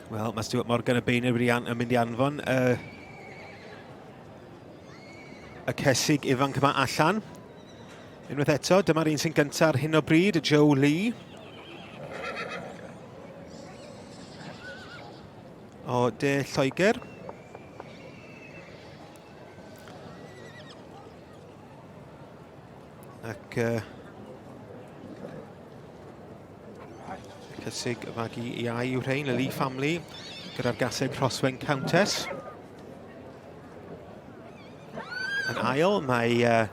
Wel, mae Stuart Morgan y bein wedi an, yn mynd i anfon y, y cesig ifanc yma allan. Unwaith eto, dyma'r un sy'n gyntaf ar hyn o bryd, Joe Lee. O De Lloegr. Ac... Uh, Cysig y fagu iau yw rhain, y Lee family, gyda'r gaseg Rhoswen Countess. Yn ail, mae uh,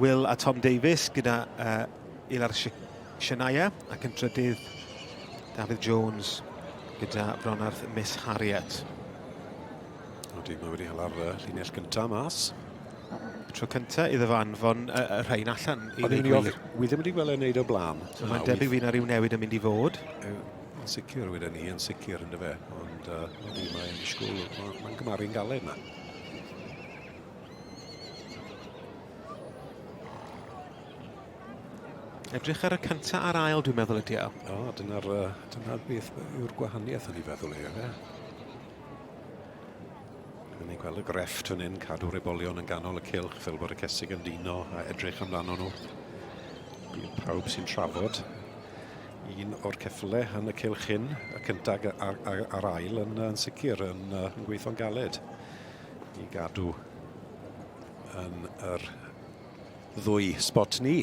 Will a Tom Davies gyda uh, Ilar Shania ac yn trydydd Dafydd Jones gyda Bronarth Miss Harriet. Oeddi, mae wedi hela'r uh, llinell gyntaf mas. Tro cyntaf iddo fo anfon y, y rhain allan i ddweud gwir. Wi ddim wedi gweld e'n neud o blam. So mae'n debyg fydd yna rhyw newid yn mynd i fod. Yn sicr, wyd ni, yn sicr yn dyfe. Ond uh, ni mae'n disgwyl, mae'n ma gymaru'n galed yma. Edrych ar y cyntaf a'r ail, dwi'n meddwl, ydi o. O, dyna'r dyna beth yw'r gwahaniaeth yn ei feddwl ei, efe. Rwy'n ei gweld y grefft fan hyn, cadw'r ebolion yn ganol y cilch fel bod y cesig yn dino a edrych amdano nhw. Bydd pawb sy'n trafod un o'r ceffyle yn y cilch hyn, y cyntag a'r, a'r, a'r ail yn, yn sicr yn, yn gweithio'n galed i gadw yn yr ddwy spot ni.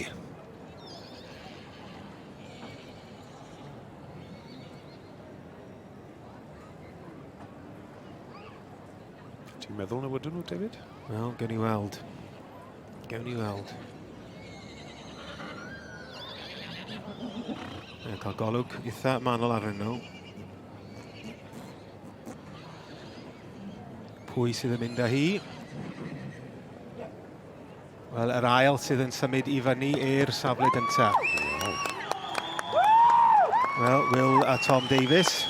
Ti'n meddwl na wydyn nhw, David? Wel, gen i weld. Gen i weld. Mae'n cael golwg eitha manol arnyn nhw. Pwy sydd yn mynd â hi? Wel, yr ail sydd yn symud i fyny i'r safle gynta. Wel, Will a Tom Davies.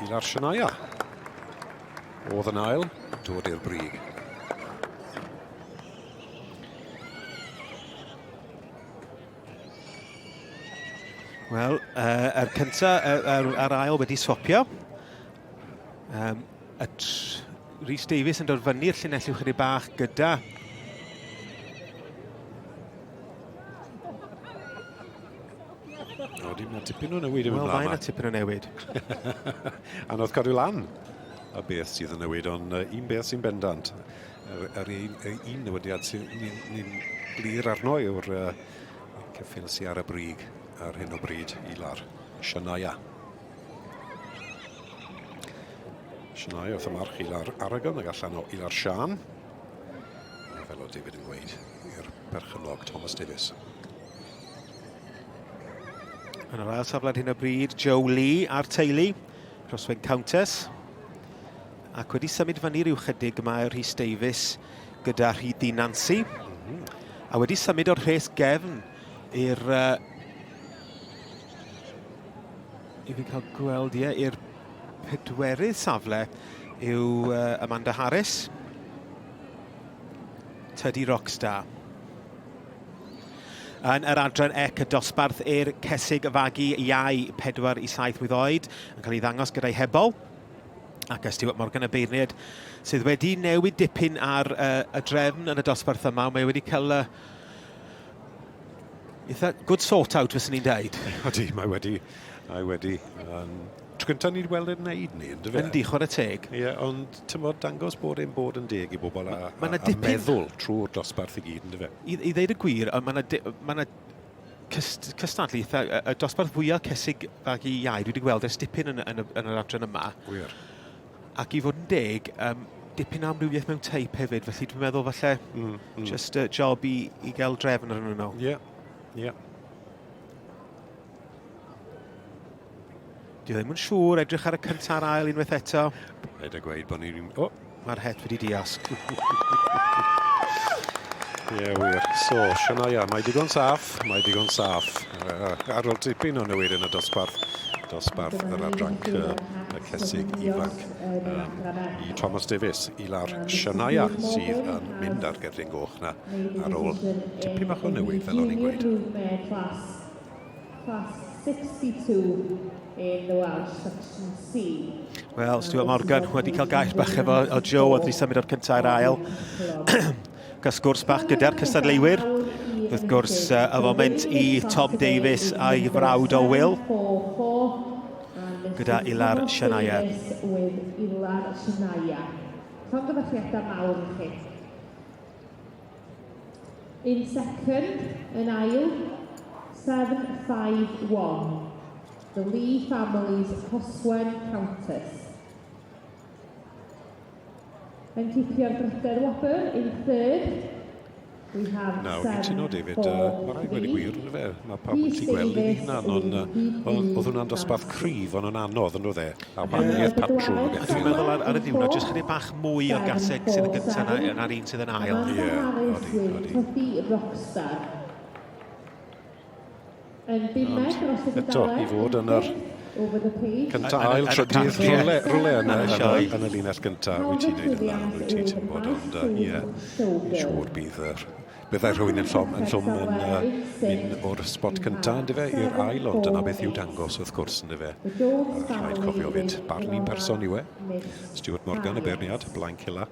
Ilar Shania. Oedd yn ail, dod i'r brig. Wel, uh, er cynta, uh, a'r ail wedi swapio. Um, A Rhys Davies yn dod fyny'r llinell i'w chydig bach gyda Rodi, mae tipyn o newid yn mynd Wel, mae tipyn o newid. Anodd cadw lan a beth sydd yn newid, ond uh, un beth sy'n bendant, yr, yr un, y un newidiad sy'n ni'n glir arno yw'r uh, ceffil sy'n ar y brig ar hyn o bryd i lar, Shania. Sianau wrth y march Ilar Aragon ag allan o Ilar Sian. Fel o David yn gweud i'r perchynnog Thomas Davis. Yn yr ail safle hyn o bryd, Joe Lee a'r teulu, Crosswing Countess. Ac wedi symud fyny rhyw chydig mae Rhys Davies gyda Rhyd Di Nancy. Mm -hmm. A wedi symud o'r rhes gefn i'r uh, I fi cael gweld, ie, i'r pedwerydd safle yw uh, Amanda Harris. Teddy Rockstar. Yn yr adran ec y dosbarth i'r cesig fagu iau 4 i 7 mlwydd oed yn cael ei ddangos gyda'i hebol ac y Stuart Morgan y beirniad sydd wedi newid dipyn ar uh, y drefn yn y dosbarth yma. Mae wedi cael uh, Eitha good sort out, fes ni'n dweud. Odi, mae wedi... Mae wedi... Um, tro gyntaf ni wedi weld e'n neud ni, yn dyfa? Yndi, chwarae teg. Ie, yeah, ond tymod, dangos bod e'n bod yn deg i bobl a, ma, a, a meddwl trwy'r dosbarth i gyd, yn dyfa? I, I ddeud y gwir, mae yna ma cyst, cystadlu eitha, y, y dosbarth fwyaf cysig bag i iau dwi wedi gweld ers dipyn yn, yn, yn, yn yr adran yma. Gwir. Ac i fod yn deg, um, dipyn amrywiaeth mewn teip hefyd, felly dwi'n meddwl falle mm, mm. just a job i, i gael drefn ar hwnnw. Ie, yeah. ie. Yeah. Dwi ddim yn siŵr, edrych ar y cyntaf a'r ail unwaith eto. Rhaid a gweud bod ni'n... Oh. Mae'r het wedi diasg. Ie, yeah, wir. So, Shania, mae digon saff, mae digon saff. Ar ôl tipyn o newid yn y dosbarth, dosbarth yr adranc y cesig ifanc um, i Thomas Davies, i lawr Shania sydd yn mynd ar gerddyn goch na ar ôl tipyn bach o newid fel o'n i'n gweud. Class 62 in the Welsh section C. Wel, Stuart Morgan wedi cael gais bach efo o Joe oedd wedi symud o'r cyntaf i'r ail. Cael sgwrs bach gyda'r cystadleuwyr. Wrth gwrs, uh, y foment i Tom Davies a'i frawd o Will. Gyda Ilar Shania. Ilar Shania. Llongyfarchiadau mawr i chi. In second, yn ail, 751. The Lee Family's Coswen Countess. Yn cipio'r drydedd wobr in third. We have Nawr, fi'n tuno David, uh, mae rhaid wedi gwir, yn fe? Mae pawb yn ti gweld ei hunan, ond oedd hwnna'n dosbarth cryf, ond yn anodd, yn oedd e? A wahaniaeth patrwn o beth. Dwi'n meddwl ar, ar y ddiwrnod, jyst chydig bach mwy o'r gaseg sydd yn gyntaf na, na'r un sydd yn ail. Ie, yeah, odi, odi. Rockstar. Ond eto, i fod yn yr cyntaf, ail, trydydd, rhywle, rhywle yn, y, yn, yn y linell gyntaf, wyt ti'n neud yn dda, wyt ti, ti'n bod, ond uh, ie, yeah, siŵr bydd yr byddai rhywun yn llom yn, llom yn uh, mynd o'r spot cyntaf yn dyfe i'r ail, ond dyna beth i'w dangos wrth gwrs yn dyfe. Rhaid cofio fyd, barn i'n person i we. Stuart Morgan y beirniad, Blaen Cilla.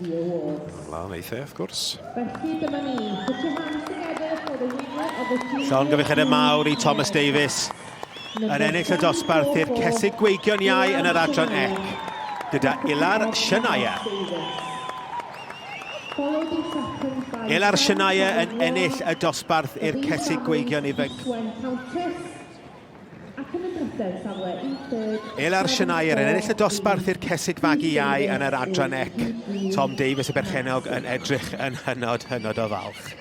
The Awards. Mae'n lan eitha, wrth gwrs. Felly dyma ni, put your hands together for the winner of the season. Llongyfecheddau mawr i Thomas Davies yn ennill y dosbarth i'r cesig gweigion iau yn yr adran ec, gyda Ilar Shania. Ilar Shania yn ennill y dosbarth i'r cesig gweigion ifanc. Ac yn y drysedd, safle un third... Elar Shanair yn ennill y dosbarth i'r cesig fagu iau yn yr adran ec. Tom Davies y berchenog yn edrych yn hynod, hynod o falch.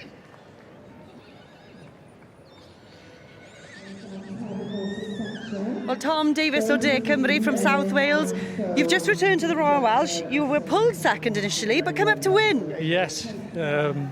Well, Tom Davies o De Cymru from South Wales. You've just returned to the Royal Welsh. You were pulled second initially, but come up to win. Yes. Um...